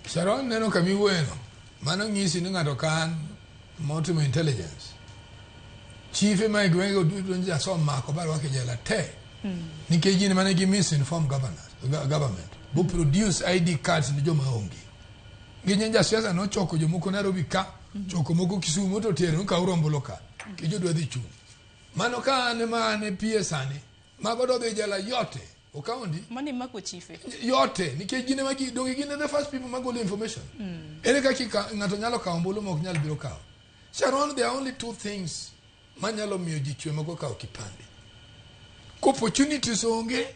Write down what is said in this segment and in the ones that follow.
Sharon neno kama iwuoyeno, mano nyisi ni ng'ato kan motimo intelligence. Chife ma e gwenge duto nje asom mako ba rwake jela te. Hmm. Nikech gin mane gi misinform governors, government. Bo produce ID cards ni joma onge. Ginye nja siasa no choko jomoko Nairobi ka, hmm. choko moko Kisumu to tero ka urombolo ka. Hmm. Kijo dwa dhi chung. Mano ka ane ma ane pie sani. Mago do dhi jela yote. Okaondi. Mani mako chife. Yote nikech gine magi donge gine the first people magolo information. Mm. Ere kaka ng'ato nyalo kawo ombulu ma ok nyal biro kawo. Sharon there are only two things manyalo miyo ji chwe mago kawo kipande. Ko opportunities onge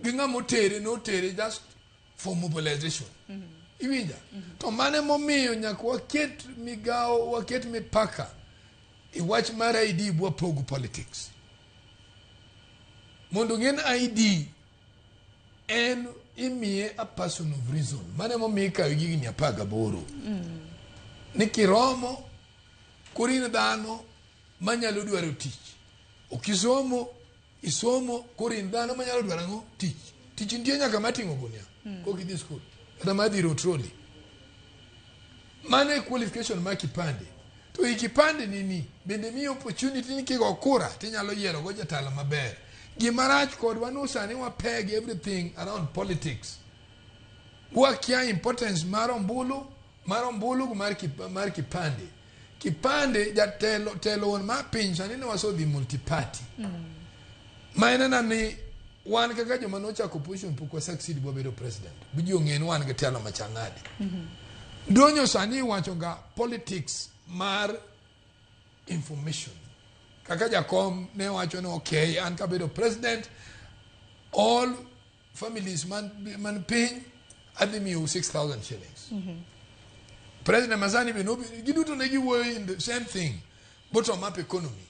gi ng'ama otere notere just for mobilization. Mm -hmm. Iwinja? Mm -hmm. To mane momiyo nyaka waket migawo waket mipaka e wach mar ID bwa pogo politics. mondo ong'en ID en imiye a person of reason mano emomiyo ikawo gi higni apar gaboro mm. ni kiromo koro in dhano manyalo dwaro tich ok isomo isomo koro in dhano manyalo dwaro ang'o tich tich nitie nyaka mating'o gunia mm. kok idhi skul kata madhi rotroli Mano e qualification ma kipande. To i kipande nini bende miyi opportunity ni kigo kura tinyalo yiero go jatelo maber. Gima rach kodwa ni sani wapeg everything around politics. Wakia importance mar ombulu, mar ombulu gi mar, kip, mar kipande. Kipande jatelo telo won mar piny sani ne waso dhi multiparty. Mm. Ma en na ni wan kaka joma nochako opposition pok wa succeed bwa bedo president. Biji ong'e ni wan gi telo machangadi. Mm -hmm. Donyo sani wacho ga politics mar information. Kaka jakom ne wacho ni okay an kabedo president all families man, man piny adhi miyo 6000 shillings. Mm -hmm. President Masani be no giduto ne giwuoyo in the same thing bottom up economy.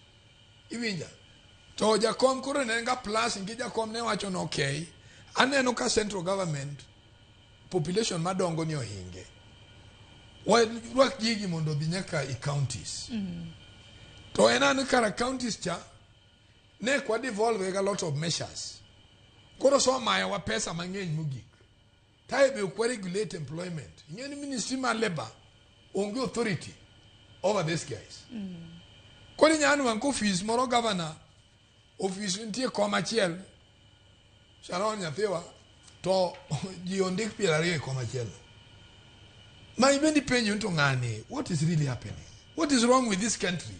Iwinja? To jakom koro ne nga plus ngi jakom ne wacho no okay. Aneno ka central government population madongo ni ohinge. Wa rwak gigi mondo bi nyaka i counties. Mm -hmm. To enani kara counties cha ne kwa devolve a lot of measures. Koro so mayo wa pesa mang'eny mogik. Tayo be ok waregulate employment. Ing'eyo ni ministry mar labour onge authority over these guys. Koro inyalo nwang' ka ofis moro governor, ofis nitie kom achiel, Sharon nyathiwa, to ji ondik piero ariyo e kom achiel. Ma ibendi penjo ni to ng'ani, what is really happening? What is wrong with this country?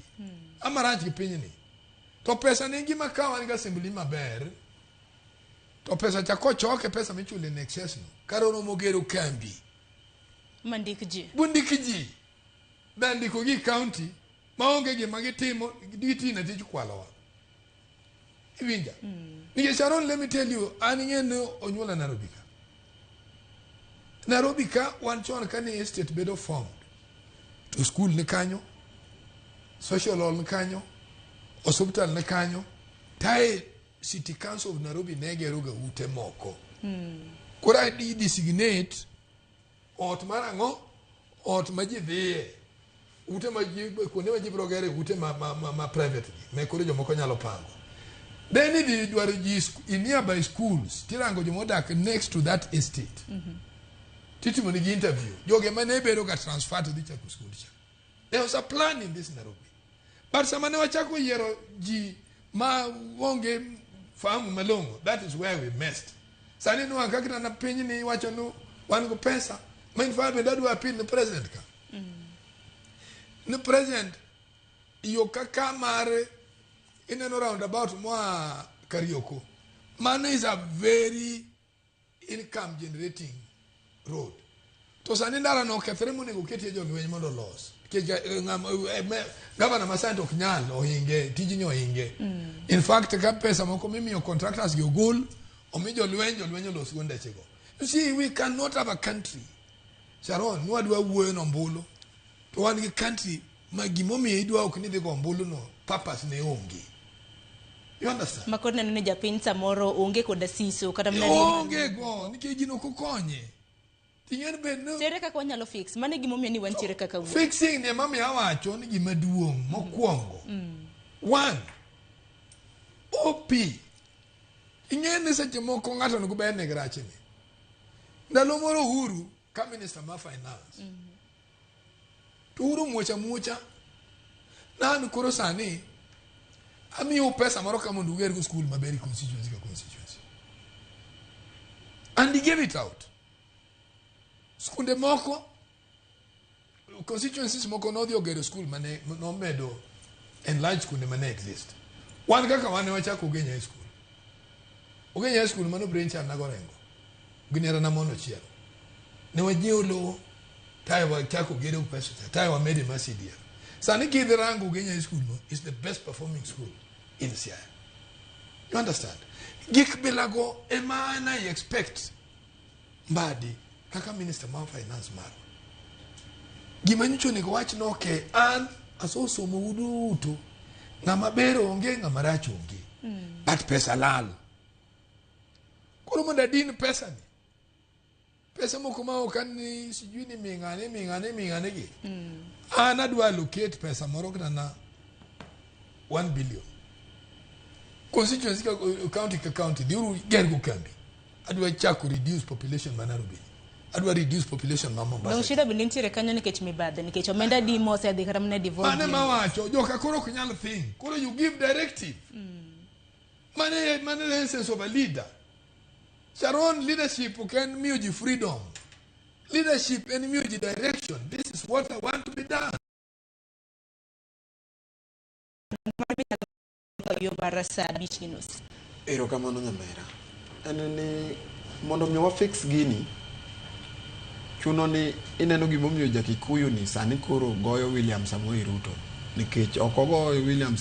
Amarach gi pinyni. To pesa ne ngima ka wan gi assembly maber, to pesa cha kochoke pesa michule ne excess no kar oromo gero kambi mandik ji bundik ji be ndiko gi county maonge gima gitimo gitina tij kwalowa iwinja mm. nikech aron let me tell you an ing'e ni onyuola nairobi ka nairobi ka wan chon ka ni estate bedo formed to school ni kanyo social hall ni kanyo osuptal ni kanyo tae City Council of Nairobi ne gero ga ute moko. Mm. Koro i designate ot mar ang'o? Ot ma ji dhiye. Ute ma ji kuonde ma ji biro gere ute ma ma ma, ma private gi. Me koro jomoko nyalo pango. Then idhi dwaro ji in nearby schools tirango joma odak next to that estate. Mm -hmm. Titimo ni interview. Joge ma ne bedo ga transfer to dhi chako school cha. There was a plan in this Nairobi. But sama ne wachako yiero ji ma onge fahamu malong'o, that is where we messed. Sani ni wan kakita na piny ni wacho nu wan go pesa. Ma in fact bende adwa appeal ni president ka. Ni president yo kaka mar ineno roundabout moa Karioko. Mano is a very income generating road to sani ndara no okethre monego oketie jolweny mondo olos nikech eh, ng'ama- eh, me- gavana masante ok nyal ohinge tijni ohinge in fact ka pesa moko mimiyo contractors gi ogol omi jolweny jolweny olos go ndechego you see we cannot have a country sharon nwadwa wuoyo nombulu to wan gi country ma gimomiyo idwa ok ni dhi go ombulu no purpose ne onge you understand makoro neno ni japiny samoro onge koda siso kata mna onge go nikech gino kukonye ting'en bed no tere kaka wanyalo fix mane gimomiyo ni wantiere kaka wuo fixing ni mami awacho ni gima duong' mokwongo one op ing'e ni seche moko ng'ato onego bed ni grachni ndalo moro uhuru ka minister ma finance mm -hmm. to uru muocha muocha nanu koro sani amiyo pesa moro ka mondo ugergo skul maber e constituency ka constituency and he gave it out skunde moko constituencies moko nodhi ogero skul mane nomedo enlarge skunde mane exist wan kaka wane wachako ogenya high school ogenya high school mano brain chan nago rengo ginera na mono chiel ne wajiewo lowo tae wachako gero pesa cha tae wamede ma CDF sani kidhi rango ogenya high school no is the best performing school in Siaya you understand gik bilago ema na expect Mbadi kaka minister mar finance marwa gima nyicho onego wach ni okay an asosomo u duto ng'ama ber onge ng'ama rach onge mm. but pesa lal koro mondo adin pesa ni pesa moko ma ok an ni sijui ni ming'ane ming'ane ming'ane gi mm. an adwa allocate pesa moro kana 1 billion constituency county ka county dhiuru gergo kambi adwa chako reduce population ma Nairobi adwa reduce population ma Mombasa Dong shida bende nitiere kanyo nikech mibadhi nikech omenda di mose adhi kata mana di mane ma wacho joka koro ok nyal thing koro you give directive mane mane the essence of a leader Sharon leadership ok en miyo ji freedom leadership en miyo ji direction this is what I want to be done ka yo mar saa abich gi nus erokamano nyamera en ni mondo mi wafix gini chuno ni ineno gimomiyo jakikuyu ni sani koro goyo william samoei ruto nikech ok ogoyo william samoei